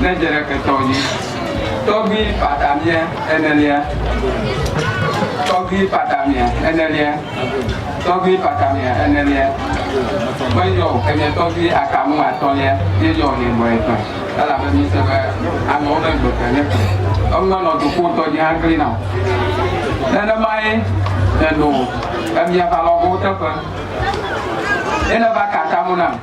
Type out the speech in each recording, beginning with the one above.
ne dze ɖeke tɔ dzi. Tɔgbi patamia enelia Tɔgbi patamia enelia Tɔgbi patamia enelia Ƒe yɔ o, enye tɔgbi akamu atɔ̃lia ye yɔ nɛ gbɔ ye ƒe. Elabe mise be amewo be gbe ke ne ke eŋume nɔ dukɔ ŋutɔ dzi hã klina o. Nenemae neno emiava lɔgowo teƒe. Ye neva ka atamo nam.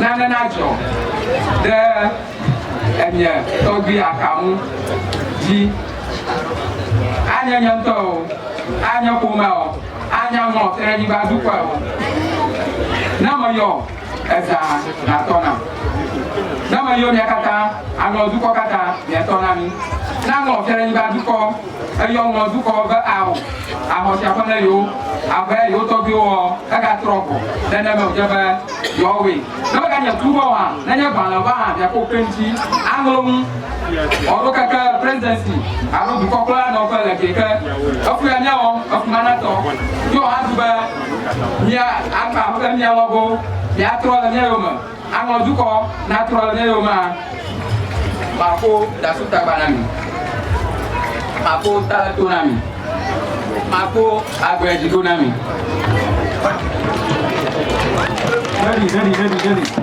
Nane nadzɔ ɖe enye tɔgbui aka ŋu dzi, anye nye ŋutɔ o, anye ƒomea o, anye aŋɔ Kɛnɛdiba dukɔe o, ne meyɔ ezã nàtɔ nam. Ne meyo mia katã, anɔ dukɔ katã miatɔ na mi. Ne aŋɔ Kɛnɛdiba dukɔ. Eyɔ ŋlɔ dukɔwo be ao, axɔ sia ƒe ne yewo, abe yewo tɔgbuiwo ɔ, egatrɔ gbɔ, neneme wòdze be yewoawɔe. Ne meganye kplu be o hã, nenye gbalẽ va hã, miakpɔ kpe ŋuti aŋlɔ nu ɔ ɖo keke Presidency alo dukɔ kple la nɔƒe le gɛ ke. Efu ya miawɔ efu ma natɔ. Yɔ hã du be mia agba be mia lɔgo, miatrɔ le mia yome. Anɔ dukɔ natrɔ ɖe yoma. Maƒo dasu tagba na mi. Maƒo ta le to na mi. Maƒo agble dzi ɖo na mi. Ɖeɖi, ɖeɖi, ɖeɖi, ɖeɖi.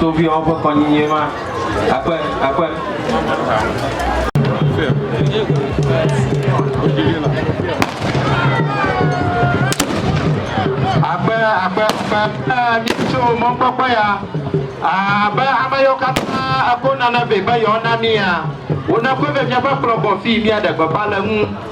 Toviawo ƒe kɔnyinye ma. Akpe, akpe. Akpe, akpe, akpe. Mitso mɔkpɔkpɔ ya. Abe ame yiwo katã eko nane vɛ be yewoana mía, wonakɔe vɛ míava kplɔ gbɔ fii míaɖe gbeƒã le eŋu.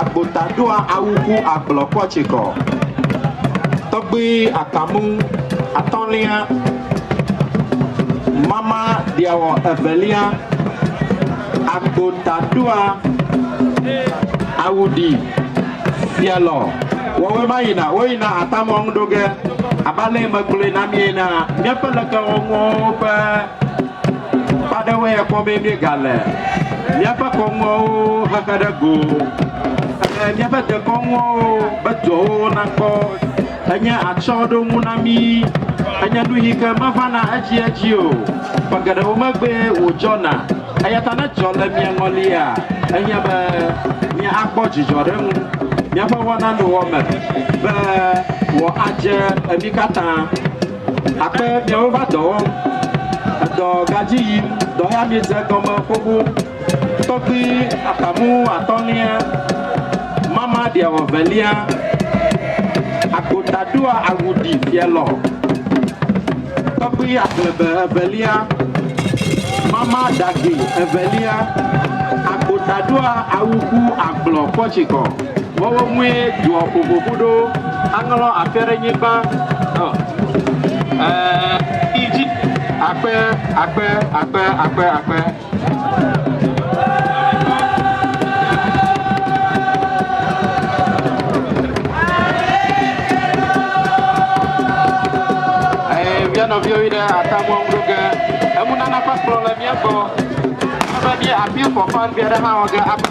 Agbota ɖoa awu ku agblɔ kɔ tsikɔ. Tɔgbi akamu atɔlia mama ɖiawɔ evelia. Agbota ɖoa awu ɖi fialɔ wɔwɔe ma yina wo yina atamɔ ŋu ɖoge. Abe ale yi me gblɔe na mi ena, miaƒe lekewɔnuwo ƒe. Akpa aɖewoe ya kpɔ be míegale míaƒe kɔnuawo xexe ɖe go. Ele míaƒe dekɔnuawo be dɔwo nakpɔ. Enye atsyɔ̃ɖoŋu na mí. Enye nu yi ke mevana edziedzi o. Ƒe geɖewo megbee wòdzɔna. Eya ta ne dzɔ le mia ŋɔlia, enye be míakpɔ dzidzɔ ɖe eŋu. Míaƒe wɔnanowɔme be wòadze mí katã. Akpe miawo va dɔ wɔm, edɔ gadzi yim, dɔ ya miedze egɔme xoxo. Tɔkpui atamu atɔ̃lia, mama ɖiawɔ velia, agota ɖoa awu ɖi fialɔ. Tɔkpui aglebe evelia, mama ɖagi evelia, agota ɖoa awu ku agblɔ kpɔtsikɔ. Wɔwɔ mue doɔ ƒoƒoƒo ɖo. Aŋlɔ akpe ɖe nyigba. Idzi. Akpe, akpe, akpe, akpe, akpe. Via nɔviwo yi ɖe atamɔ ŋu ge. Emunana ƒe kplɔ le mía gbɔ. Ebe mía appeal for funds aɖe hã wɔ ge.